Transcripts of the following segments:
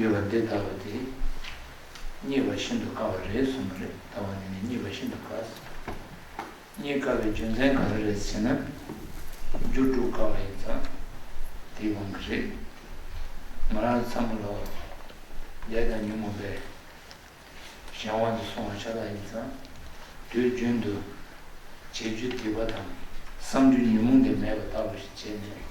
ཡོད་པ་འདི་ལྟ་བུ་དེ་རྙེད་པ་ཤིན་ཏུ་དཀའ་བ་རེད་གསུངས་པ་རེད་ད་བར་ནི་ནི་རྙེད་པ་ཤིན་ཏུ་དཀའ་ཟེར། རྙེད་དཀའ་བའི་རྒྱུ་མཚན་ག་རེ་རེད་ཟེར་ན། རྒྱུ་སྒྲུབ་དཀའ་བ་ཡིན་ཙང་དེའི་དབང་གིས་རེད། ང་རང་ཚ་མོ་ལོ་ལེགས་དང་ཉོན་མོ་པའི་གཞན་དབང་དུ་སོང་བ་ཆ་ལག་ཡིན་ཙང་དུས་རྒྱུན་དུ་བྱེད་རྒྱུ་དད་པ་དང་བསམ་རྒྱུ་ཉོན་མོངས་དེ་མེད་པ་ལྟ་བུ་ཞིག་བྱས་ནས་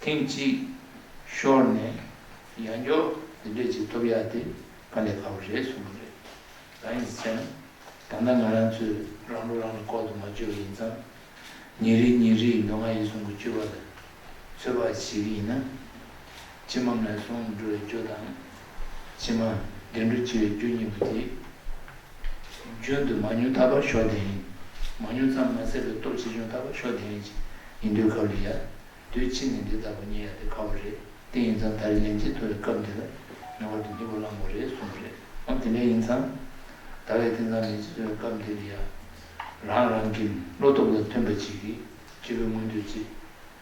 ཐེངས་གཅིག་ཤོར་ནས་ཡར་འགྱོག་དེ་འདྲས་བྱེད་ཐུབ་ཡ་དེ་ཕ་ལས་ཁ་བོ་རེད་གསུངས་པ་རེད། གང་ཡིན་ཟེར་ན་ད་ལྟ་ང་རང་ཚོས་རང་ལུགས་རང་གིས་ལྐོག་ཏུ་མ་བཅོས་པ་ཡིན་ཙང། ཉིན་རེ་ཉིན་རེའི་མདོ་སྔགས་ཡིག་གཟུངས་ཀྱི་བཅོས་པ་ལ་ཚོད་དཔག་བྱེད་ཀྱི་ཡིན་ན། ཕྱི་མ་མེད་གསུམ་འགྲོ་བའི་རྒྱུ་དང། ཕྱི་མ་འདི་འགྲོ་འཆི་བའི་རྒྱུ་གཉིས་པོ་དེ། རྒྱུན་དུ་མ་མྱོང་ཐར་པར་ཞོག་དེ་ཡིན། མ་མྱོང་ཙམ་མ་ཟད་པའི་སྟོབས་ཆེ་ཆུང་ཐར་པར་ཞོག་དེ་ཡིན། ཡིན་དུས་སྐབས་ལ་ཡ། དུས་ཕྱིས་ནས་འདི་ལྟ་བུ་རྙེད་ཡ་དེ་དཀའ་བོ་རེད་དེ་ཡིན་ཙང་ད་རེས་ལན་གཅིག་ཐོབ་པའི་སྐབས་འདི་ལ་ངེས་པར་དུ་སྙིང་པོ་བླང་དགོས་རེད་གསུངས་པ་རེད། འོ་དེ་འདྲ་ཡིན་ཙང། ད་བས་དེ་ཙམ་མི་བྱེད་པའི་སྐབས་འདི་ལ་ཡ། རང་རང་གི་བློ་སྟོབས་ལ་མཐུན་པ་ཅིག་གིས་སྤྱི་བོའི་མངོན་འདོད་ཅིག།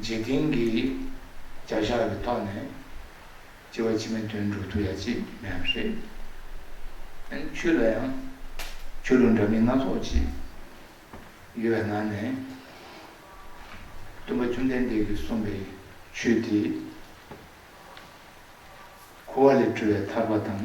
འཇིག་རྟེན་གྱི་བྱ་བཞག་ལ་ལྟོས་ནས་སྐྱེ་བ་ཕྱི་མའི་དོན་སྒྲུབ་ཐུབ་ཡ་ཅེས་མི་སྨྲ་བ་རེད། ཨ་ཁྱོད་ལ་ཡང་ཆོས་ལུགས་འདྲ་མིན་སྣ་ཚོགས་ཅིག་ཡོད་པའི་ནང་ནས། སྟོན་པ་བཅོམ་ལྡན་འདས་ཀྱིས་གསུངས་པའི་ཆོས་དེ། འཁོར་བ་ལས་གྲོལ་བའི་ཐར་པ་དང།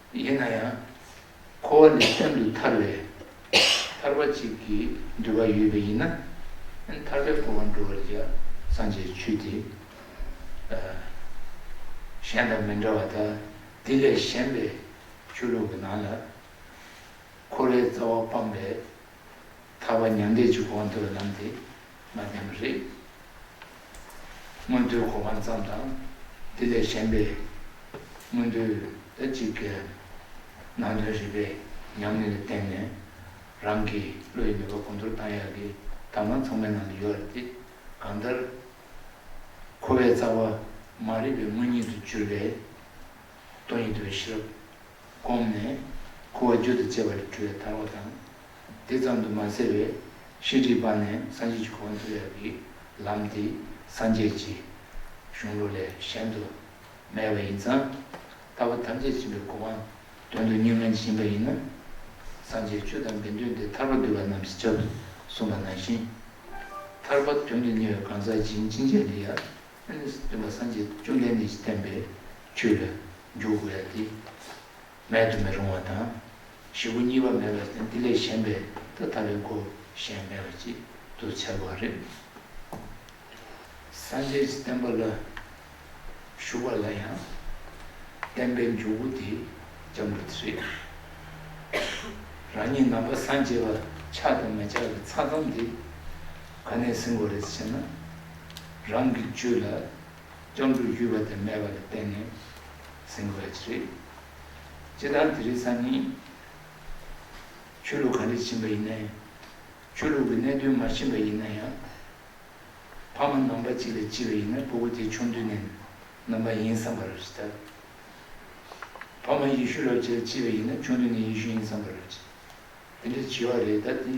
ཡིན་ན་ཡང་འཁོར་བ་ལས་ཤིན་ཏུ་ཐར་བའི་ཐར་པ་གཅིག་གིས་འདུལ་བ་ཡོད་པས་ཡིན་ན་ཐར་པའི་འཁོར་བ་འགྲོ་བར་ཡང་སངས་རྒྱས་ཆོས་འདི་གཞན་དང་མི་འདྲ་བ་དག་འདི་ལས་གཞན་པའི་ཆོས་ལུགས་ཀྱི་ནང་ལ་འཁོར་བའི་རྩ་བ་སྤངས་པའི་ཐར་བ་མྱང་འདས་ཀྱི་དབང་བསྡུ་བའི་ལམ་དེ་མ་བསྟན་པ་རེད། སྔོན་བསྡུའི་གོ་འཕང་ཙམ་དང་འདི་ལས་གཞན་པའི་སྔོན་བསྡུ་ལ་ཅི་དགོས་ཨང། ནང་དོན་རིག་པའི་ཉམས་ལེན་ལ་བརྟེན་ནས་རང་གི་བློ་ཡི་ནུས་པ་གོང་མཐོར་གཏང་ཡག་གི་གདམས་ངག་ཚང་མའི་ནང་དུ་ཡོད་རེད་དེ། གང་ལྟར། འཁོར་བའི་རྩ་བ་མ་རིག་པའི་དངོས་ཉིད་དུ་གྱུར་པའི་སྟོང་ཉིད་དུ་བའི་ཤེས་རབ། བསྒོམས་ནས། ཁུ་བ་རྒྱུད་དུ་བཅས་པ་ལས་གྲོལ་བའི་ཐར་བ་དང། དེ་ཙམ་དུ་མ་ཟད་པའི་ཤེས་སྒྲིབ་སྦངས་ནས་སངས་རྒྱས་ཀྱི་གོ་འཕང་ཐོབ་ཡ་གི་ལམ་དེ་སངས་རྒྱས་ཀྱི་གཞུང་ལུགས་ལས་གཞན་དུ་མེད་པ་ཡིན་ཙང། ལྟ་བ་ཐམས་ཅད་བྱིན་པའི་གོ་འཕང་དོན་དུ་གཉུག་མའི་འབྱིན་པ་ཡིན་ན། སངས་རྒྱས་ཆོས་དང་དགེ་འདུན་ཏེ་ཐར་པ་འདོད་པ་རྣམས་ཀྱི་ཆ་དུ་གསུངས་པ་ནང་བཞིན། ཐར་པ་དོན་དུ་གཉེར་བའི་གང་ཟག་སྦྱིན་ཅི་མཇལ་འདི་ཡང། འདི་ལ་སངས་རྒྱས་བཅོམ་ལྡན་འདས་ཀྱིས་བསྟན་པའི་ཆོས་ལ་འཇུག་དགོས་ཡ་དེ། མེད་དུ་མི་རུང་བ་དང། བཞི་པོ་གཉིས་པ་མེད་པར་བསྟན་འདི་ལས་གཞན་པའི་ཐ་དག་པའི་སྒོ་གཞན་མེད་པ་ཅིག་ཏུ་འཚལ་བ་རེད། སངས་རྒྱས་ཀྱི་བསྟན་པ་ལ་ཞུགས་པ་ལ་ཡང་བསྟན་པའི་འཇུག་སྒོ་དེ་ལྕམ་དྲུག་དེ་རེད། རང་ཉིད་ནང་པ་སངས་རྒྱས་པ་ཆགས་དང་མི་ཆགས་ཀྱི་ཚགས་ཙམ་དེ་ག་ནས་ཟིན་དགོས་རེད་ཟེར་ན། རང་གི་རྒྱུད་ལ་སྐྱབས་འགྲོ་ཡུལ་བ་དེ་མེད་པ་ལ་བརྟེན་ནས་ཟིན་དགོས་པ་ཅི་རེད། སྤྱིར་བཏང་དེ་རིགས་སམ་ནི། ཆོས་ལུགས་ག་འདྲས་ཕྱིན་པ་ཡིན་ནའི། ཆོས་ལུགས་ཀྱི་གནད་དོན་མ་ཕྱིན་པ་ཡིན་ན་ཡང། ཕ་མ་ནང་པ་ཅིག་ལ་བྱིས་པ་ཡིན་ན་བུ་གུ་དེ་ཆུང་དུས་ནས་ནང་པ་ཡིན་བསམ་པར་རེ་ད། ཕ་མ་ཡེ་ཤུ་རབ་བྱེད་ལ་བྱིས་པ་ཡིན་ན་ཆུང་དུས་ནས་ཡེ་ཤུ་ཡིན་བསམ་པར་རེ། དེ་འདྲ་བྱིས་བ་རེ་ད་དེ།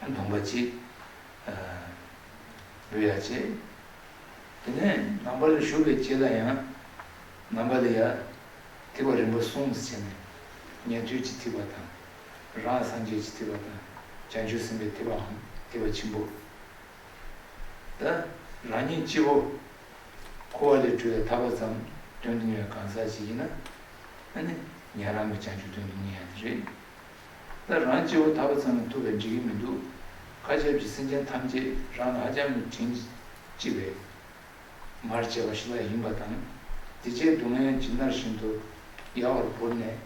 བུམ་པ་གཅིག། བུ་ཡ་བྱེད། དེ་ནས་ནང་པ་ལ་ཞུགས་པའི་རྗེས་ལ་ཡང། ནང་པ་ལ་ཡ། ཐིག་པ་རིམ་པ་གསུམ་དུ་བྱས་ནས། ཉན་ཐོས་ཀྱི་ཐིག་པ་དང། རང་སངས་རྒྱས་ཀྱི་ཐིག་པ་དང། བྱང་ཆུབ་སེམས་དཔའི་ཐིག་པའམ་ཐིག་པ་ཆེན་པོ། ད་རང་ཉིད་སྤྱི་བོ། ཁུ་བ་ལས་སྤྲུལ་བའི་ཐར་པ་ཙམ་སྟོན་གྱིན་ཡོད་གང་ཟག་ཅིག་ཡིན་ན། ཨ་ནི། ཉན་རང་གི་བྱང་ཆུབ་སྟོན་གྱིན་ཡོད་ཡ་དེ་རེད། ད་རང་སྐྱེ་བོ་ད་བར་ཙམ་ལ་ཐུབ་པའི་འགྲིག་གི་མི་འདུག་མཁའ་ཁྱབ་ཀྱི་སེམས་ཅན་ཐམས་ཅད་རང་ལ་ཧ་ཅང་གི་དྲིན་ལྕི་བས། མར་བྱས་པ་ཞིག་ལ་ཡིན་པ་དང། དེ་རྗེས་སྡུག་བསྔལ་གྱི་མནར་བཞིན་དུ་ཡལ་བར་བོར་ནས་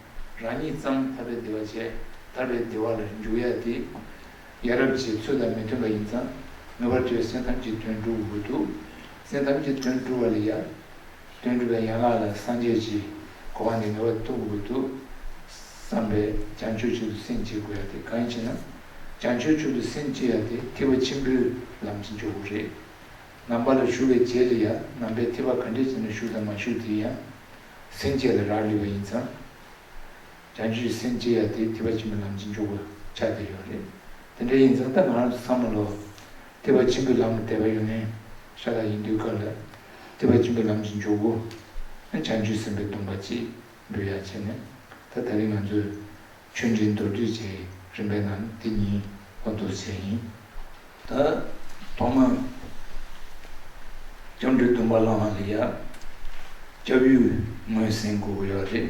རང་ཉིད་ཙམ་ཐར་པའི་བདེ་བ་བཅས་ཐར་པའི་བདེ་བ་ལ་འཇུག་ཡ་དེ། ཡ་རབས་ཀྱི་ཚུལ་དང་མི་མཐུན་པ་ཡིན་ཙང་ངེས་པར་དུ་ཡ་སེམས་ཐམས་ཅད་དོན་བསྒྲུབ་དགོས་འདུག་སེམས་ཐམས་ཅད་དོན་བསྒྲུབ་བ་ལ་ཡ། དོན་གྲུབ་པའི་ཡན་ལག་ལ་སངས་རྒྱས་ཀྱིས་གོ་བ་འདི་ངེས་པར་དུ་དགོས་འདུག་བསམ་པས་བྱང་ཆུབ་ཆུད་དུ་སེམས་བསྐྱེད་དགོས་ཡ་དེ་གང་ཡིན་ཞེ་ན། བྱང་ཆུབ་ཆུད་དུ་སེམས་བསྐྱེད་ཡ་དེ་ཐིགས་པ་ཆེན་པོའི་ལམ་གྱི་འཇོག་སྒོ་རེད། ནང་པ་ལ་ཞུགས་པའི་རྗེས་ལ་ཡང་ནང་པའི་ཐིགས་པ་ག་འདྲས་ཀྱི་ནང་ཞུགས་དང་མ་ཞུགས་དེ་ཡང་སེམས་བསྐྱེད་ལ་རག་ལུས་པ་ཡིན་ཙང། བྱང་ཆུའི་སེམས་ཅི་ཡ་དེ་སྐྱེ་བ་ཆེན་པོའི་ལམ་གྱིས་འཇུག་པར་ཆགས་བསྡད་ཡོད་རེད། དེ་འདྲ་ཡིན་ཙང་ད་ང་རང་ཚོ་བསམ་བློ། སྐྱེ་བ་ཆེན་པོའི་ལམ་ལ་དད་པ་ཡོད་ནའི། ཤ་སྟག་ཡིན་དུས་སྐབས་ལ། སྐྱེ་བ་ཆེན་པོའི་ལམ་གྱིས་འཇུག་གོ། ཨ་བྱང་ཆུའི་སེམས་པའི་སྡོམ་པ་གཅིག་འབུལ་ཡ་བྱས་ནས། ད་ད་རིང་ང་ཚོས། ཆོས་འབྲེལ་མདོར་བསྡུས་བྱས་ཡི་རིམ་པའི་ནང་འདི་གཉིས་ལོ་འདུ་བྱས་ཡིན། ད། ཐོག་མར། བྱང་ཆུའི་སྡོམ་པ་བླངས་ལ་ཡ། སྐྱབས་ཡུལ་ངོས་ཟིན་དགོས་ཀྱི་ཡོད་རེད།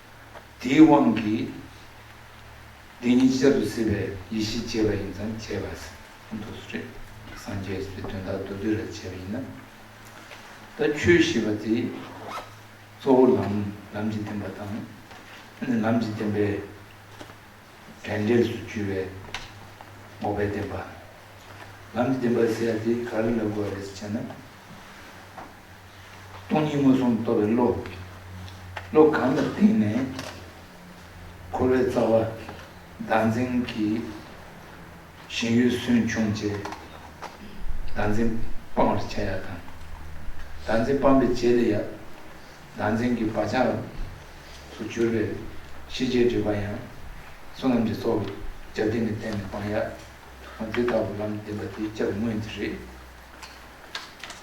དེའི་དབང་གིས་བདེན་གཉིས་གཅིག་ཅར་དུ་སྲིད་པའི་ཡེ་ཤེས་སྐྱེ་བ་ཡིན་ཙང་བྱས་པ་ཟིན་ཐོ་སུ་རེད། སངས་རྒྱས་ཞེས་པའི་དོན་དག་མདོར་བསྡུས་རེ་བྱས་པ་ཡིན་ན། ད་ཁྱོད་ཞེས་པ་དེ་གཙོ་བོ་ལམ་ལམ་གྱི་བདེན་པ་དང། ལམ་གྱི་བདེན་པའི་དྲན་འབྲས་སུ་གྱུར་བའི་འགོག་པའི་བདེན་པ། ལམ་གྱི་བདེན་པ་ཟེར་ཡ་དེ་ག་རེ་ལ་དགོས་པ་རེད་ཅེ་ན། སྟོང་ཉིད་མངོན་སུམ་རྟོགས་པའི་བློ། བློ་གང་ལ་བརྟེན་ནས་འཁོར་བའི་རྩ་བ་བདག་འཛིན་གྱི་ཞེན་ཡུལ་སུན་ཕྱུང་བཅས་བདག་འཛིན་སྤང་བར་བྱ་ཡག་དང། བདག་འཛིན་སྤངས་པའི་རྗེས་ལ་ཡང་བདག་འཛིན་གྱི་བག་ཆགས་སུ་གྱུར་པའི་ཤེས་བྱའི་སྒྲིབ་པ་ཡང་བསོད་ནམས་ཀྱི་ཚོགས་ཀྱི་སྦྱར་ལྡན་གྱི་སྟེང་ནས་སྤང་ཡག། འདི་ལྟ་བུ་ལམ་བདེན་པ་དེའི་སྐྱབས་དངོས་འདི་རེད།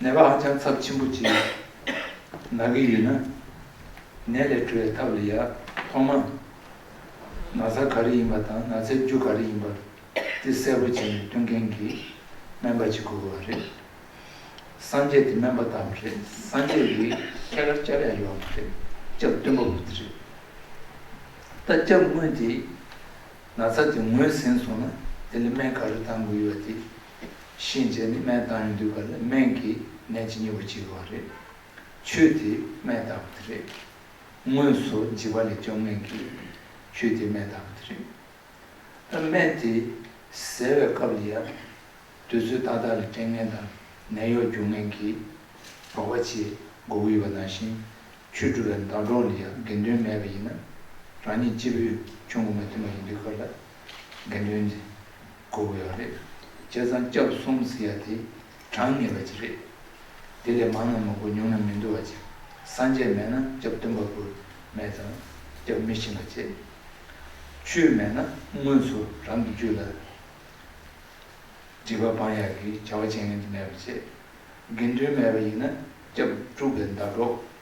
ནད་པ་ཧ་ཅང་ཚབས་ཆེན་པོ་ཅིག་ན་གི་ཡོད་ན། ནད་ལས་གྲོལ་བའི་ཐབས་ལ་ཡ། ཐོག་མ། ན་ཚ་ག་རེ་ཡིན་པ་དང་ན་ཚའི་རྒྱུ་ག་རེ་ཡིན་པ་དེ་གསལ་པོ་བྱས་ནས་སྟོན་མཁན་གྱི་སྨན་པ་ཅིག་དགོས་བ་རེད། སངས་རྒྱས་དེ་སྨན་པ་དག་མ་རེད་སངས་རྒྱས་ཡི་གེ་ཁྱད་གར་བཅའ་ལས་ཡོད་བ་མ་རེད་སྐྱབས་སྟོན་པ་པོ་དེ་རེད། ད་སྐྱབས་དངོས་དེས་ན་ཚ་དེ་ངོས་ཟིན་སོང་ན་དེ་ལ་སྨན་ག་རེ་གཏང་དགོས་ཡོད་བ་དེ་གཤིན་རྗེ་ནི་སྨན་བཏང་ཡོང་དུས་ག་ལ་སྨན་གྱི་ནད་ཇི་སྙེད་པ་བྱེད་དགོས་བ་རེད། ཆོས་དེས་སྨན་བཏགས་པ་དེ་རེད། དངོས་སུ་འཇིགས་པ་ལས་སྐྱོབ་མཁན་གྱི་ཆོས་དེས་སྨན་བཏགས་པ་དེ་རེད། ཨ་སྨན་དེ་ཟེར་བའི་སྐབས་ལ་ཡང། དུས་ཚོད་ཏག་ཏག་ལ་སྐྲན་ངན་དང་ནད་གཡོག་རྒྱུག་མཁན་གྱི་རོགས་པ་བྱེད་དགོས་ཀྱི་ཡོད་པ་ནང་བཞིན། ཆོས་སྒྲུབ་པའི་ཟླ་གྲོགས་ལ་ཡང་དགེ་འདུན་མེད་པ་ཡིན་ན། རང་ཉིད་སྤྱི་བོས་ཆོས་མགོ་མ་ཐོན་པ་ཡིན་དུས་ག་ལ་དགེ་འདུན་དེ། དགོས་པ་ཡང་རེད། བྱས་ཙང་སྐྱབས་གསུམ་ཟེར་ཡ་དེ་དྲང་ངེས་པ་ཅིག་རེད། དེ་ལས་མང་ན་མི་དགོས་ཉུང་ན་མི་འདུ་བ་ཅིག་སངས་རྒྱས་མེད་ན་སྐྱབས་སྟོན་པ་དགོས་མེད་ཙང་སྐྱབས་མི་ཕྱིན་པ་ཅི། ཆོས་མེད་ན་དངོས་སུ་རང་གི་རྒྱུད་ལ་སྒྲིབ་པ་སྤང་ཡག་གི་བྱ་བ་བྱེད་ངེས་མེད་པ་ཅི། དགེ་འདུན་མེད་པ་ཡིན་ན་སྐྱབས་དཀྲུགས་པའི་མདའ་གྲོགས་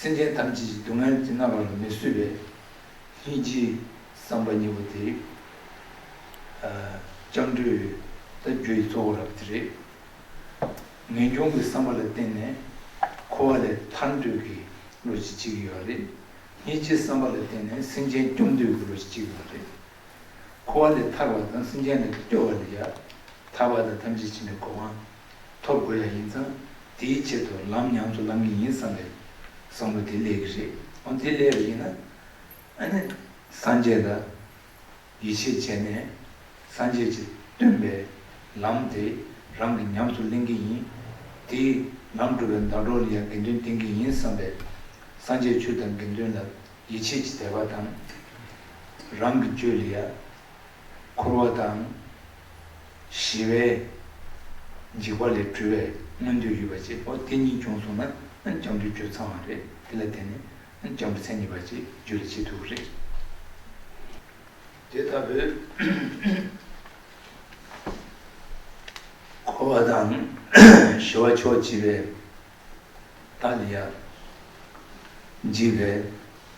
སེམས་ཅན་ཐམས་ཅད་ཀྱི་སྡུག་བསྔལ་གྱིས་མནར་བར་མི་བཟོད་པས། སྙིང་རྗེའི་བསམ་པ་གཉིས་པོ་དེ་སྤྱང་གྲུང་བའི་རྟ་རྒྱུག་གི་གཙོ་བོ་རབ་དེ་རེད། ངེས་འབྱུང་གི་བསམ་པ་ལ་བརྟེན་ནས་འཁོར་བ་ལས་ཐར་འདོད་ཀྱི་བློ་གཅིག་སྐྱེ་གི་ཡོད་པ་རེད། སྙིང་རྗེའི་བསམ་པ་ལ་བརྟེན་ནས་སེམས་ཅན་སྐྱོབ་འདོད་ཀྱི་བློ་གཅིག་སྐྱེ་གི་ཡོད་པ་རེད། འཁོར་བ་ལས་ཐར་བ་དང་སེམས་ཅན་ལ་སྐྱོབ་པ་ལ་ཡང་དག་པ་དང་ཐམས་ཅད་མཁྱེན་པའི་གོ་འཕང། ཐོབ་དགོས་ཡ་ཡིན་ཙང་དེའི་ཆེད་དུ་ལམ་ཉམས་སུ་ལམ་གྱི་ཡིན་བསམ་པའི་བསམ་བློ་དེ་ལས་ཀྱི་རེད་འོན་དེ་ལས་པ་ཡིན་ན་ཨ་ནི་སངས་རྒྱས་ལ་ཡིད་ཆེས་བྱས་ནས་སངས་རྒྱས་ཀྱིས་སྟོན་པའི་ལམ་དེ་རང་གི་ཉམས་སུ་ལེན་གྱི་ཡིན་དེའི་ལམ་སྒྲུབ་པའི་ཟླ་གྲོགས་ལ་ཡང་དགེ་འདུན་བསྟེན་གྱི་ཡིན་བསམ་པའི་སངས་རྒྱས་ཆོས་དང་དགེ་འདུན་ལ་ཡིད་ཆེས་ཀྱི་དད་པ་དང་རང་གི་རྒྱུད་ལ་ཡ་འཁོར་བ་དང། ཞི་བའི། འཇིགས་པ་ལས་གྲོལ་བའི་མངོན་འདོད་ཡོད་པ་ཅེས་པའོ་དེ་གཉིས་བྱུང་སོང་ན་སྐྱབས་འགྲོའི་སྤྱོད་ཚང་བ་རེད་དེ་ལ་བརྟེན་ནས་སྐྱབས་འགྲོ་མཚན་ཉིད་པ་ཅེས་བརྗོད་ལ་ཅི་ཐུག་རེད། དེ་ལྟ་བུའི། འཁོར་བ་དང། ཞི་བ་མཆོག་བགྱིས་པའི། ཏཱ་ལི་ཡ། འཇིགས་པའི།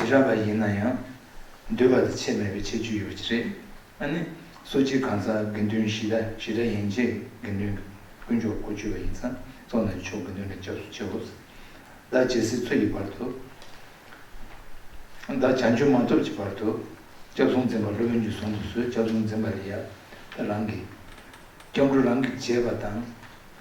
རྗེས་རབས་ལ་ཡིན་ན་ཡང། འདུལ་བ་དེ་ཆེད་མེད་པའི་ཆེད་བརྗོད་ཡོད་ཀྱི་རེད། ཨ་ནི། སོ་སྤྱིའི་གང་ཟག་དགེ་འདུན་བཞི་དང་བཞི་སྒྲ་ཡན་ཆད་དགེ་འདུན། དཀོན་མཆོག་སྒོ་གཅོད་པ་ཡིན་ཙང་གཙོ་ན་ཆོས་དགེ་འདུན་ལ་སྐྱབས་སུ་མཆི། ཧཱུྃ། བདག་ཇི་སྲིད་འཚོ་ཡི་བར་དུ། བདག་བྱང་ཆུབ་མ་ཐོབ་ཀྱི་བར་དུ། སྐྱབས་སོང་འཛིན་པ་སློབ་དཔོན་གྱི་གཟུངས་དུ་གསོལ་སྐྱབས་སོང་འཛིན་པ་རི་ཡབ། རང་གི། སྐྱབས་འགྲོ་རང་གིས་བྱས་པ་དང།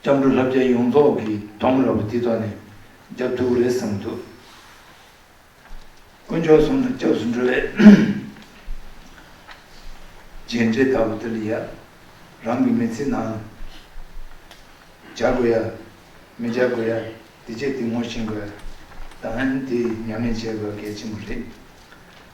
སྐྱབས་འགྲོ་ལྷ་བརྒྱ་ཡོངས་རྫོགས་ཀྱི་གདོང་ར་བ་འདི་དག་ནས་རྒྱབ་གདུགས་རེད་བསམ་འདུག་དཀོན་མཆོག་གསུམ་དང་སྐྱབས་སུ་འགྲོ་བའི་རྗེས་འབྲེལ་ལྟ་བུ་འདི་ལ་ཡ་རང་གི་མི་ཚེ་ནང་ལ་བྱ་དགོས་ཡ་མི་བྱ་དགོས་ཡ་འདི་བྱས་འདི་ངོ་ཤེས་དགོས་ཡ་དང་ལན་དེ་ཉམས་ལེན་བྱེད་དགོས་གལ་ཆེན་པོ་རེད།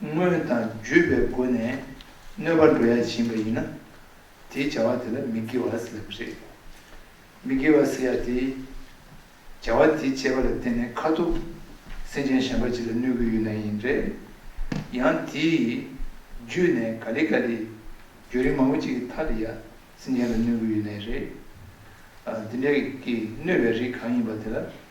དངོས་དང་བརྒྱུད་པའི་སྒོ་ནས་གནོད་པ་འགྲོ་ཡ་བྱིན་པ་ཡིན་ན། དེའི་བྱ་བ་དེ་ལ་མི་དགེ་བ་ཟེར་བ་རེད། མི་དགེ་བ་ཟེར་ཡ་དེའི་བྱ་བ་དེ་བྱས་པ་ལ་བརྟེན་ནས་ཁ་ཐུག་སེམས་ཅན་གཞན་པ་ཅིག་ལ་གནོད་ཀྱི་ཡོད་ན་ཡིན། རེད་ཡང་དེའི་བརྒྱུད་ནས་ག་ལི་ག་ལི་རྒྱུ་རིན་མང་པོ་ཅིག་གི་མཐར་དེ་ཡང་སེམས་ཅན་ལ་གནོད་ཀྱི་ཡོད་ནའི་རེད། འདི་འདྲ་གི་གནོད་པའི་རིགས་གང་ཡིན་པ་དེ་ལ་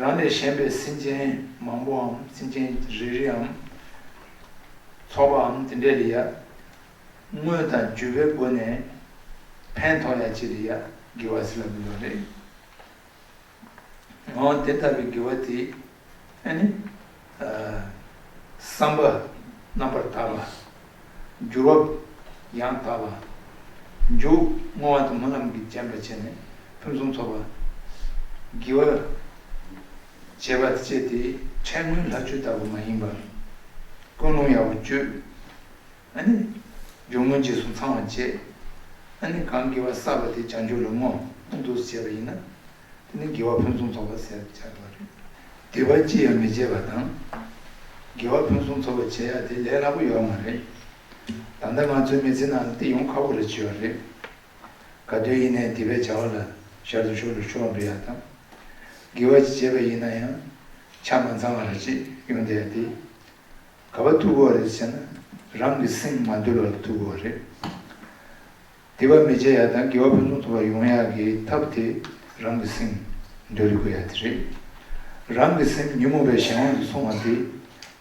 རང་ལས་གཞན་པའི་སེམས་ཅན་མང་པོའམ་སེམས་ཅན་རེ་རེའམ། ཚོགས་པའམ་དེ་འདྲའི་ལ་ཡ། དངོས་དང་བརྗོད་པའི་སྒོ་ནས་ཕན་ཐོགས་ཡ་བྱེད་ལ་ཡ་དགེ་བ་སེལ་ལ་མི་འདོད་རེ། འོན་དེ་ལྟ་བུའི་དགེ་བ་དེ་ནི། བསམ་པ་རྣམ་པར་དག་ལ། འགྱུར་བ་ཡང་དག་ལ། འཇུག་བསྔོ་བ་དང་མོ་རྣམས་ཀྱིས་བརྒྱན་པར་བྱས་ནས་ཕུན་སུམ་ཚོགས་པ། བགྱི་བར་བྱེད་པ་སྤྱད་དེ་ཕྲད་སྔོན་ལྷ་ཆོས་ལྟ་བུ་མ་ཡིན་པར། ཀུན་སློང་ཡག་པོ་བཅོས། འཇུག་བསྔོ་རྗེས་སུ་འཚང་བར་བྱེད། གང་བགྱི་བ་བསགས་པ་དེ་བྱང་ཆུབ་ལ་བསྔོ། འདུ་བྱེད་པ་ཡིན་ན། དེ་ནི་དགེ་བ་ཕུན་སུམ་ཚོགས་པ་ཟད་པར་བྱ་དགོས་རེད། སྡིག་པ་ཅི་ཡང་མི་བྱེད་པ་དང། དགེ་བ་ཕུན་སུམ་ཚོགས་པ་བྱེད་ཡག་དེ་ལས་སླ་པོ་ཡོད་མ་རེད། ད་ལྟ་ང་ཚོའི་མི་ཚེ་ནང་ལ་དེ་ཡོང་ཁག་པོ་རེ་བྱེད་པ་རེད། ག་དུས་ཡིན་ནས་སྡིག་པའི་བྱ་བ་ལ་ཞར་དུ་ཞུགས་ལ་ཞུགས་འགྲོ་ཡག་དང། དགེ་བ་ཅི་བྱེད་པ་ཡིན་ན་ཡང་ཆ་མ་ཚང་བ་རེ་བྱེད་ཡོང་བསྡད་དེ། ག་བ་ཐུག་གོ་རེད་ཟེར་ན་རང་གི་སེམས་མ་དུལ་བ་ལ་ཐུག་གོ་རེད། དེ་བ་མི་བྱེད་ཡག་དང་དགེ་བ་ཕུན་སུམ་ཚོགས་པ་ཡོང་ཡག་གི་ཐབས་དེ་རང་གི་སེམས་འདུལ་རི་དགོས་ཡག་དེ་རེད། རང་གི་སེམས་ཉིན་མོ་བའི་གཞན་དབང་དུ་སོང་བ་དེ་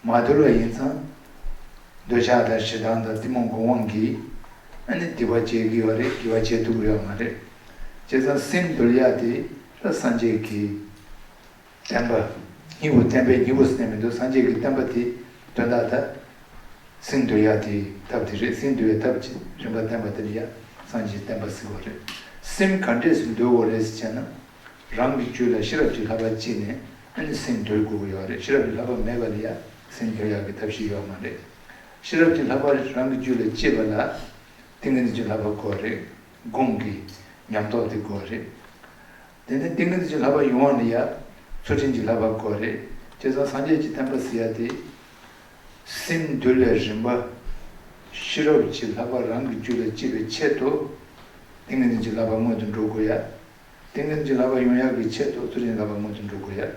མ་འདུལ་བ་ཡིན་ཙང། འདོད་ཆགས་དང་ཞེ་སྡང་དང་གཏི་མུག་འགོག་དབང་གིས་ཨ་ནི་དེ་བ་བྱེད་གི་ཡོད་རེད་དགེ་བ་བྱེད་ཐུབ་ཀྱི་ཡོད་མ་རེད། བྱས་ཙང་སེམས་འདུལ་ཡག་དེ་ལ་སངས་རྒྱས་ཀྱིས། བསྟན་པ། སྙིང་པོ་བསྟན་པའི་སྙིང་པོ་སེམས་མི་འདུག་སངས་རྒྱས་ཀྱི་བསྟན་པ་དེ་དོན་དག་དག། སེམས་འདུལ་ཡ་དེ་ཐབས་དེ་རེད་སེམས་འདུལ་བའི་ཐབས་ཀྱི་རིམ་པ་བསྟན་པ་དེ་ལ་ཡ་སངས་རྒྱས་བསྟན་པ་ཟེར་བ་རེད། སེམས་ག་འདྲས་སུ་འདུལ་དགོས་རེད་ཟེར་བྱས་ན། རང་གི་རྒྱུད་ལ་ཤེས་རབ་ཀྱི་ལྷ་པ་སྐྱེས་ནས་ཨ་ནི་སེམས་འདུལ་དགོས་ཀྱི་ཡོད་རེད་ཤེས་རབ་ཀྱི་ལྷ་པ་མེད་པ་ལ་ཡ་སེམས་འདུལ་ཡ་གི་ཐབས་ཤིག་ཡོད་མ་རེད། ཤེས་རབ་ཀྱི་ལྷ་པ་རང་གི་རྒྱུད་ལ་སྐྱེས་པ་ལ་ཏིང་ངེ་འཛིན་གྱི་ལྷ་པ་དགོས་རེད་དགོངས་ཀྱི་ཉམས་རྟོགས་དེ་དགོས་རེད། དེ་ནི་ཏིང་ངེ་འཛིན་གྱི་ལྷག་པར་ཡུལ་དབང་ནི་ཡ། ཚུལ་ཁྲིམས་ཀྱི་ལྷག་པར་གོ་རེ། ཅེས་དང་སངས་རྒྱས་ཀྱི་བསྟན་པ་སི་ཡ་སྟེ། སིམ་འདུལ་ལས་རིམ་པ། ཤེས་རབ་ཀྱི་ལྷག་པར་རང་གི་རྒྱུད་ལ་བཅིལ་བའི་ཆེད་དུ། ཏིང་ངེ་འཛིན་གྱི་ལྷག་པར་སྔོན་དུ་འགྲོ་དགོས་ཡ། ཏིང་ངེ་འཛིན་གྱི་ལྷག་པར་ཡོངས་ཡག་གི་ཆེད་དུ་ཚུལ་ཁྲིམས་ཀྱི་ལྷག་པར་སྔོན་དུ་འགྲོ་དགོས་ཡ།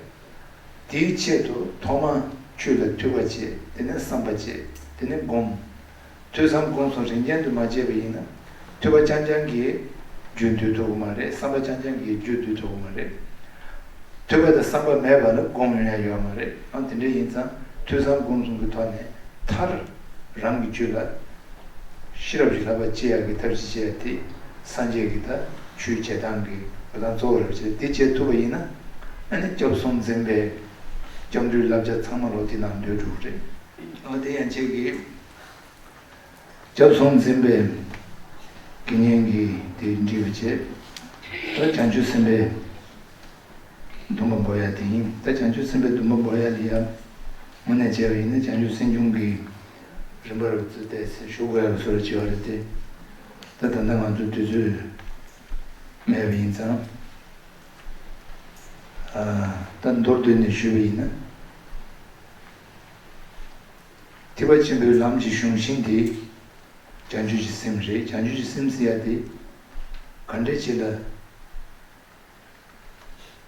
དེའི་ཆེད་དུ་ཐོག་མ། ཆོས་ལ་ཐུལ་བ་བྱེད་དེ་ནས་བསམ་པ་བྱེད་དེ་ནས་བསྒོམ། ཐོས་བསམ་སྒོམ་གསུམ་རིན་ཆེན་དུ་མ་སྤྱད་པ་ཡིན་ན། ཐོས་པ་རྐྱང་རྐྱང་གིས་རྒྱུད་མདུད་ཐོབ་གི་མ་རེད་བསམ་པ་རྐྱང་རྐྱང་གིས་རྒྱུད་མདུད་ཐོབ་གི་མ་རེད། ཐོས་པ་དང་བསམ་པ་མེད་པ་ལ་སྒོམ་ཡོང་ཡ་ཡོད་མ་རེད་ཨང་དེ་འདྲ་ཡིན་ཙང་ཐོས་བསམ་སྒོམ་གསུམ་གི་ཐོག་ནས་མཐར། རང་གི་རྒྱུད་ལ། ཤེས་རབ་ཀྱི་ལག་པ་བཅད་ཡ་གི་ཐབས་ཅིག་སྤྱད་དེ། སངས་རྒྱས་ཀྱི་ད་ཆུའི་བྱེ་ཐང་གི་འགྲོ་སྟངས་གཙོ་བོ་རེ་བ་བྱས་འདི་སྤྱད་ཐུབ་པ་ཡིན་ན། ཨ་ནི་སྐྱབས་གསུམ་འཛིན་པའི། སྐྱབས་འགྲོའི་བསླབ་བྱ་ཚང་མ་ལོ་དེ་ནང་འདོད་འགྲོ་གི་རེད། ཨོ་དེ་ཡང་ཁྱེད་ཀྱིས་སྐྱབས་གསུམ་འཛིན་པའི་དགེ་བསྙེན་གྱི་དེ་འདྲི་བ་བྱེད། ད་བྱང་ཆུབ་སེམས་དཔའི་འདུན་པ་འབོ་ཡ་དེ་ཡིན་ད་བྱང་ཆུབ་སེམས་དཔའི་འདུན་པ་འབོ་ཡ་ལི་ཡ་མུ་ནས་བྱས་པ་ཡིན་ན་བྱང་ཆུབ་སེམས་ཆུང་གི་རིམ་པར་བརྩི་བལྟས་སེ་ཞུ་དགོས་ཡ་སོ་ར་བྱེད་བ་རེད་དེ། ད་ད་ལྟ་ང་ཚོ་དུས་ཚོད་མེད་པ་ཡིན་ཙང་ད་མདོར་བསྡུས་ནས་ཞུས་པ་ཡིན་ན། ཐེག་པ་ཆེན་པོའི་ལམ་གྱི་གཞུང་བཞིན་དེ། བྱང་ཆུབ་ཀྱི་སེམས་རེད་བྱང་ཆུབ་ཀྱི་སེམས་ཟེར་ཡ་དེ། ག་འདྲས་བྱེད་ལ།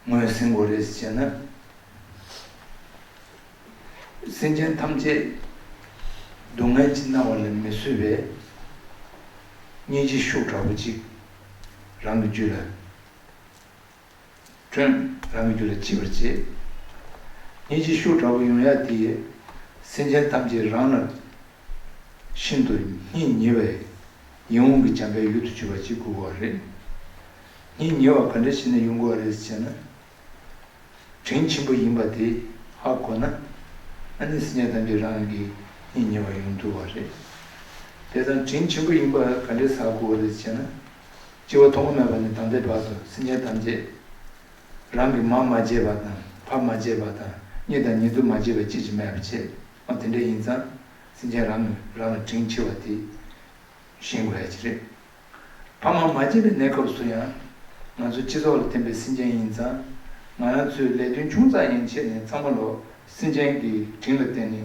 ངོས་ཟིན་གོ་རེ་ཟེར་ན། སེམས་ཅན་ཐམས་ཅད། སྡུག་བསྔལ་གྱིས་མནར་བ་ལ་མི་བཟོད་པས། གཉིས་ཀྱི་ཤུགས་དྲག་པོ་གཅིག་རང་གི་རྒྱུད་ལ། བསྐྲུན། རང་གི་རྒྱུད་ལ་འཆི་བར་བྱེད། ཉིན་བྱེད་ཤུགས་དྲག་པོ་ཡང་ཡང་འདི། སེམས་ཅན་ཐམས་ཅད་རང་ལ་ཤིན་ཏུ་སྙིང་ཉེ་བས། ཡིད་འོང་གི་འཇམ་དཔལ་ཡུལ་དུ་བྱེད་པ་ཅིག་དགོས་པ་རེད། སྙིང་ཉེ་བ་ག་འདྲའི་ཞིག་ནས་ཡོང་དགོས་པ་རེད་ཅེ་ན། དྲིན་ཆེན་པོ་ཡིན་པ་དེ་ཧ་གོ་ན། ཨ་ནི་སེམས་ཅན་ཐམས་ཅད་རང་གི་སྙིང་ཉེ་བ་ཡོང་འདུག་བ་རེད། དེ་ཙམ་དྲིན་ཆེན་པོ་ཡིན་པ་ག་འདྲའི་ཟ་དགོས་པ་རེད་ཅེ་ན། སྤྱི་བོ་ཐོག་མ་མེད་པ་ནས་དམ་པའི་བར་དུ་སེམས་ཅན་ཐམས་ཅད། རང་གི་མར་མ་བརྗེས་པ་དང་ཕར་མ་བརྗེས་པ་དང་གཉིས་དང་ཉེ་དུ་མ་བརྗེས་པའི་དཔྱིད་ཀྱི་མེ་བ་ཆད་མ་དེ་འདྲས་ཡིན་ཙང་སེམས་ཅན་རང་གིས་རང་ལ་དྲིང་ཕྱི་བ་དེ་བཞིན་དགོས་ཡ་ཅི་རེད། ཕར་མ་མ་བརྗེས་པའི་གནས་སྐབས་སུ་ཡང་ང་ཚོ་སྤྱི་ཚོགས་ལ་བརྟེན་པའི་སེམས་ཅན་ཡིན་ཙང་ང་རང་ཚོའི་ལས་དོན་ཆུང་ཙག་ཡན་ཆད་ནས་གཙང་མ་ལོག་སེམས་ཅན་གྱི་དྲིང་ལ་བརྟེན་ནས་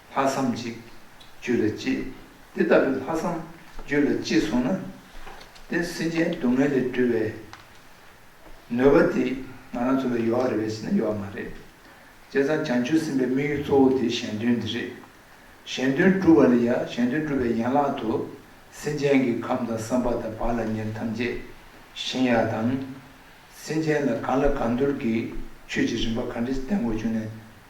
ལྷག་བསམ་གཅིག། རྒྱུད་ལ་གཅེས། དེ་ལྟ་བུའི་ལྷག་བསམ་རྒྱུད་ལ་གཅེས་སོང་ན། དེ་སེམས་ཅན་སྡུག་བསྔལ་ལས་སྒྲོལ་བའི་ནུས་པ་དེ་ང་རང་ཚོ་ལ་ཡོད་རེད་བས་ཟེར་ན་ཡོད་མ་རེད། བྱས་ཙང་བྱང་ཆུབ་སེམས་དཔའི་དམིགས་ཡུལ་གཙོ་བོ་དེ་གཞན་དོན་འདི་རེད། གཞན་དོན་སྒྲུབ་པ་ལ་ཡང་གཞན་དོན་སྒྲུབ་པའི་ཡན་ལག་ཏུ་སེམས་ཅན་གྱི་ཁམས་དང་བསམ་པ་དང་བག་ལ་ཉལ་ཐམས་ཅད་གཞན་ཡག་དང། སེམས་ཅན་ལ་གང་ལ་གང་འདུལ་གྱི་ཆོས་ཀྱི་རིམ་པ་གང་དྲིས་བསྟན་དགོས་བྱུང་ནས།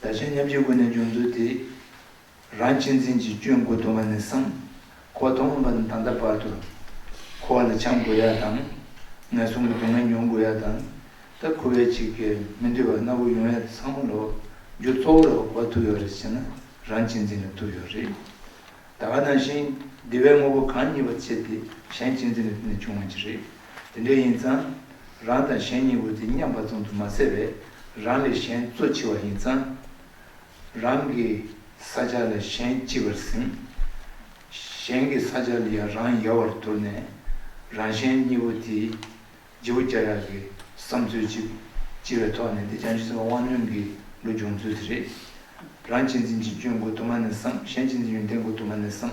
བདག་གཞན་མཉམ་བརྗེའི་སྒོ་ནས་སྦྱོང་ཚུལ་དེ། རང་གཅེས་འཛིན་གྱི་སྐྱོན་དགུ་དུ་མ་ནས་བསམ། ཁོག་སྟོང་ངོ་མ་ནས་ད་ལྟ་བར་དུ། འཁོར་བ་ལ་བྱམས་དགོས་ཡ་དང། ངན་སོང་གི་སྡུག་བསྔལ་མྱོང་དགོས་ཡ་དང། ད་ཁུ་བས་ཅིག་གིས་མི་འདུལ་བར་སྣ་བུག་ཡོང་ཡ་ཚང་མ་ལོག་རྒྱུ་གཙོ་བོ་ལ་འོག་པ་ཐུག་ཡོད་རེད་ཟེར་ན་རང་གཅེས་འཛིན་ལ་ཐུག་ཡོད་རེད། ད་ག་ནང་བཞིན་བདེ་བའི་དངོས་པོ་གང་རྙེད་པ་བཅས་དེ་གཞན་གཅེས་འཛིན་ལས་ཐོན་ནས་བྱུང་བ་ཅི་རེད། དེ་འདྲའི་ཡིན་ཙང། རང་དང་གཞན་གཉིས་འོས་ཏེ་མཉམ་པ་ཙམ་དུ་མ་ཟད་པས་རང་ལས་གཞན་གཙོ་ཆེ་བ་ཡིན་ཙང། རང་གི་ས་ཆ་ལ་གཞན་ལྕི་བར་ཟིན། གཞན་གྱི་ས་ཆ་ལ་ཡང་རང་ཡལ་བར་གྱུར་ནས། རང་གཞན་གཉིས་པོ་དེས་རྗེ་བོ་རྒྱ་གྲགས་ཀྱི་བསམ་ཚུལ་གཅིག་ལྕི་བའི་ཐོག་ནས་འདི་བྱང་ཆུབ་སེམས་དཔའ་དབང་ལྡན་གྱི་ལུགས་སྦྱོང་ཚུལ་དེ་རེད། རང་གཅེས་འཛིན་གྱི་སྐྱོན་གོ་དུ་མ་ནས་བསམ་གཞན་གཅེས་འཛིན་ཡོན་ཏན་གོ་དུ་མ་ནས་བསམ།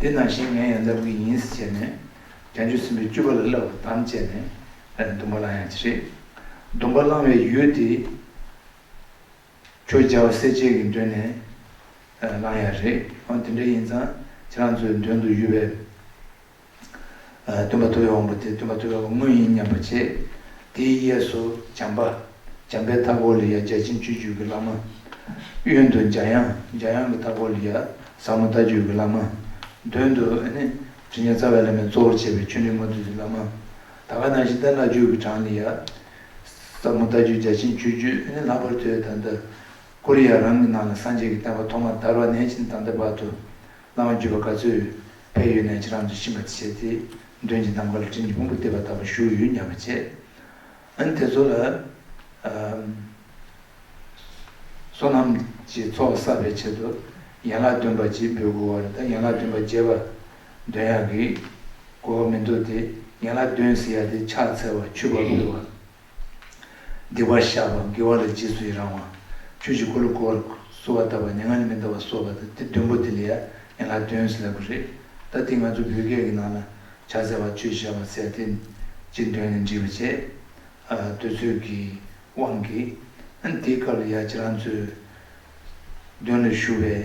དེ་ནང་བཞིན་ངས་ཡང་ལབ་གི་ཡིན་ཟེར་བྱས་ནས། རྒྱ་མཆུ་སྲིན་པོའི་སྐྱུ་པ་ལ་བསླབ་བར་དམ་བཅས་ནས། སྡུམ་པ་བླང་ཡང་ཅི་རེད། སྡུམ་པ་བླང་བའི་ཡུལ་དེ། ཁྱོད་རྒྱལ་བ་སྲས་བཅས་ཀྱི་མདུན་ནས། བླང་ཡག་རེད། འོན་ཏེ་འདྲ་ཡིན་ཙང། ཁྱེད་རང་ཚོའི་མདུན་དུ་ཡོད་པའི། སྟོན་པ་ལྟོ་བའི་དབང་པོ་དེ་སྟོན་པ་ལྟོ་བའི་དངོས་ཡིན་སྙམ་པར་བྱེད། དེའི་གཡས་སུ་འཇམ་པ། འཇམ་པའི་མཐའ་སྐོར་ལ་ཡ་བརྒྱ་ཅན་བཅུ་བཅུ་གྱི་བླ་མ། གཡོན་དུ་འཇའ་དབྱངས། འཇའ་དབྱངས་ཀྱི་མཐའ་སྐོར་ལ་ཡ། ཟབ་མོ་ལྟ་སྤྱོད་ཀྱི་བླ་མ། མདུན་དུ། དྲི་ལྔའི་རྩ་བའི་བླ་མས་གཙོ་བོར་བྱས་པའི་ཆོས་འབྲེལ་ལྔ་བདུད་ཀྱི་བླ་མ། ད་ག་ནང་བཞིན་བསྟན་ལ་སྤྱོད་ཀྱི་གྲངས་ལ་ཡ། ཟབ་མོ་ལྟ་སྤྱོད་བརྒྱ་ཆེན་བཅུ་བཅུ། ལྷག་པར་དུ་ཡ། དང་ལྟ་སྐོར་ཡ་རང་གི་ནང་ལ་སངས་རྒྱས་ཀྱི་བསྟན་པ་ཐོག་མར་དར་བ་ནས་ཕྱིན་དང་ལྟ་བར་དུ། སྣང་བ་འགྱུ་བ་ག་ཚོད་ཕས་ཡོད་ནས་ཁྱེད་རང་ཚོས་ཕྱིན་པར་བྱས་ཏེ་མདུན་གྱི་ནམ་མཁའ་ལ་སྤྲིན་གྱི་ཕུང་པོ་ལྟེ་བ་ལྟ་བུ་བཞུགས་ཡོད་སྙམ་པར་བྱས། ཨ་ནི་དེ་ཚོ་ལ། བསོད་ནམས་ཀྱི་ཚོགས་བསགས་པའི་ཆེད་དུ་ཡན་ལག་བདུན་པ་གཅིག་འབུལ་དགོས་བར་ད་ཡན་ལག་བདུན་པ་བརྒྱད་པ་འདོན་ཡག་གི་དགོས་པ་མི་འདུག་སྟེ་ཡན་ལག་བདུན་ཟེར་ཡག་དེ་ཕྱག་འཚལ་བ་ཆུ་བབས་ཕུལ་བ། བདེ་བར་གཤགས་པ་དགེ་བ་ལ་རྗེས་སུ་ཡི་རང་བ། ཆོས་ཀྱི་འཁོར་ལོ་བསྐོར་བ། གསོལ་བ་བཏབ་པ་ནི་ང་ནི་མི་འདའ་བར་གསོལ་བ་དང་དེ་བདུན་པོ་དེ་ལས་ཡན་ལག་བདུན་ཟླ་དགུ་རེད། ད་འདི་ང་ཚོ་བོད་སྐད་ཀྱི་ནང་ལ་བྱ་བསལ་བ་ཆོས་བྱ་བ་སེལ་ཏེ། ཅེས་འདོན་ནས་འདྲིས་པ་བྱས། འདོད་ཚུལ་གྱི་དབང་གིས། དེའི་སྐབས་ལ་ཡ་ཁྱེད་རང་ཚོས། འདོན་ལ་ཞུ་བའི།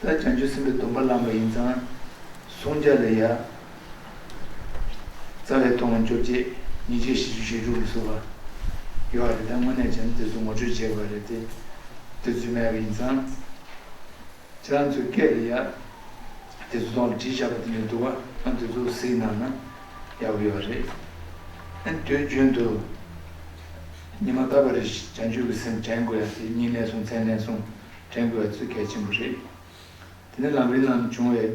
ད་བྱང་ཆུབ་སེམས་དཔའི་སྡོམ་པ་བླངས་པ་ཡིན་ཙང་བསྲུང་བྱ་ལ་ཡ། རྩ་བའི་མཐོང་བ་བཅོ་བརྒྱད་ཉིས་བརྒྱ་བཞི་བཅུ་ཞེ་དྲུག་གིས་བསུ་བ། ཡོད་རེད་ད་དངོས་གནས་བྱས་ན་དེ་ཚོ་ངོ་སྤྲོད་བྱེད་དགོས་རེད་དེ། དེ་ཚོས་མེད་པ་ཡིན་ཙང། ཁྱེད་རང་ཚོའི་སྐད་ལ་ཡ། དེ་ཚོ་ཐོག་ལ་བྲིས་བཞག་པ་དེ་འདྲ་འདུག་ཨང་དེ་ཚོ་གཟིགས་གནང་ན་ཡག་པོ་ཡོད་རེད། ཨན་དུས་རྒྱུན་དུ། ཉི་མ་རྟག་པར་བྱང་ཆུབ་ཀྱི་སེམས་དྲན་དགོས་ཡ་དེ་གཉིས་ལན་གསུངས་ཚན་ལན་གསུངས། དྲན་དགོས་ཚུལ་གལ་ཆེན་པོ་རེད། དེ་ནི་ལམ་རིམ་ནང་བྱུང་བའི་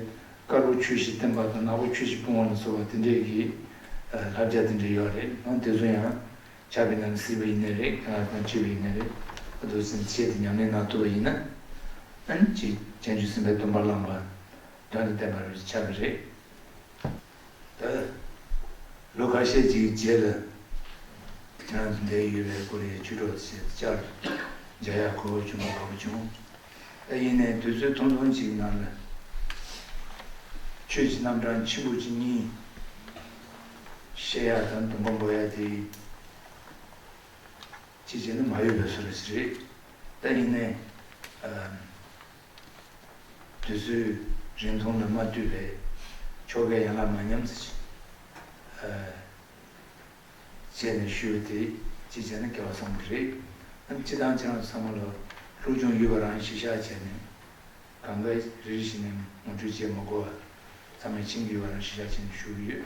དཀར་པོ་ཆུ་བཞི་བསྟན་པ་དང་ནག་པོ་ཆུ་བཞི་སྤོང་བ་ལ་སོགས་པ་དེ་འདྲའི་གི་ལྷ་བརྒྱ་དེ་འདྲའི་ཡོད་རེད་ཨང་དེ་ཚོ་ཡང་ཆགས་པའི་ནང་ནས་སྲིད་པ་ཡིན་ནི་རེད་ཨང་དང་བཅོས་པ་ཡིན་ནི་རེད་ཨ་དུ་སེམས་བསྐྱེད་དེ་ཉམས་ལེན་གནང་ཐུབ་པ་ཡིན་ན་ཨང་ཅིག་ཅན་ཆུ་སྲིན་པའི་སྡོམ་པ་བླངས་པ་དོན་དུ་བསྟན་པར་ཆགས་གི་རེད། ལོ་ཁ་ཤས་ཀྱི་རྗེས་ལ་ཁྱེད་རང་འདས་ཡོད་པའི་ཀོ་རི་ཡའི་བྱུས་གྲོགས་ཞེས་བཅར་འདྲ་ཡག་གོ་བོ་བྱུང་གོ་བོ་བྱུང། ཨ་ཡིན་ནས་དུས་ཚོད་ཐུང་ཐུང་ཅིག་ནང་ལ་ཁྱོད་ཀྱི་རྣམ་གྲངས་ཆེན་པོ་གཅིག་གཉིས་བཤད་ཡག་དང་དུམ་བུ་འབོ་ཡག་དེ་ཡིན། ཅིག་བྱས་ན་མ་ཡོད་པའི་སོ་ར་ཞིག་རེད། ཨ་ཡིན་ནས། དུས་ཚོད་རིང་ཐུང་ལ་མ་བལྟོས་པའི་ཆོ་གས་ཡན་ལག་མ་ཉམས་བརྩི་བྱེད། བྱས་ནས་ཞུས་པ་དེ་ཅི་བྱས་ན་སྐལ་བ་བཟང་པོ་རེད་དམ་ཅི་དང་ཅི་རང་སོ་ཚང་མ་ལ་ལྷུག་སྦྱོང་ཡོད་པ་རང་གཞི་བཞག་བྱས་ནས་གང་དགའ་རེ་རེ་བྱེད་ནས་ངོ་སྤྲོད་བྱས་མ་གོ་བ་ཚང་མས་མཆན་གྱི་ཡོད་པ་རང་གཞི་བཞག་བྱས་ནས་ཞུ་གི་ཡོད།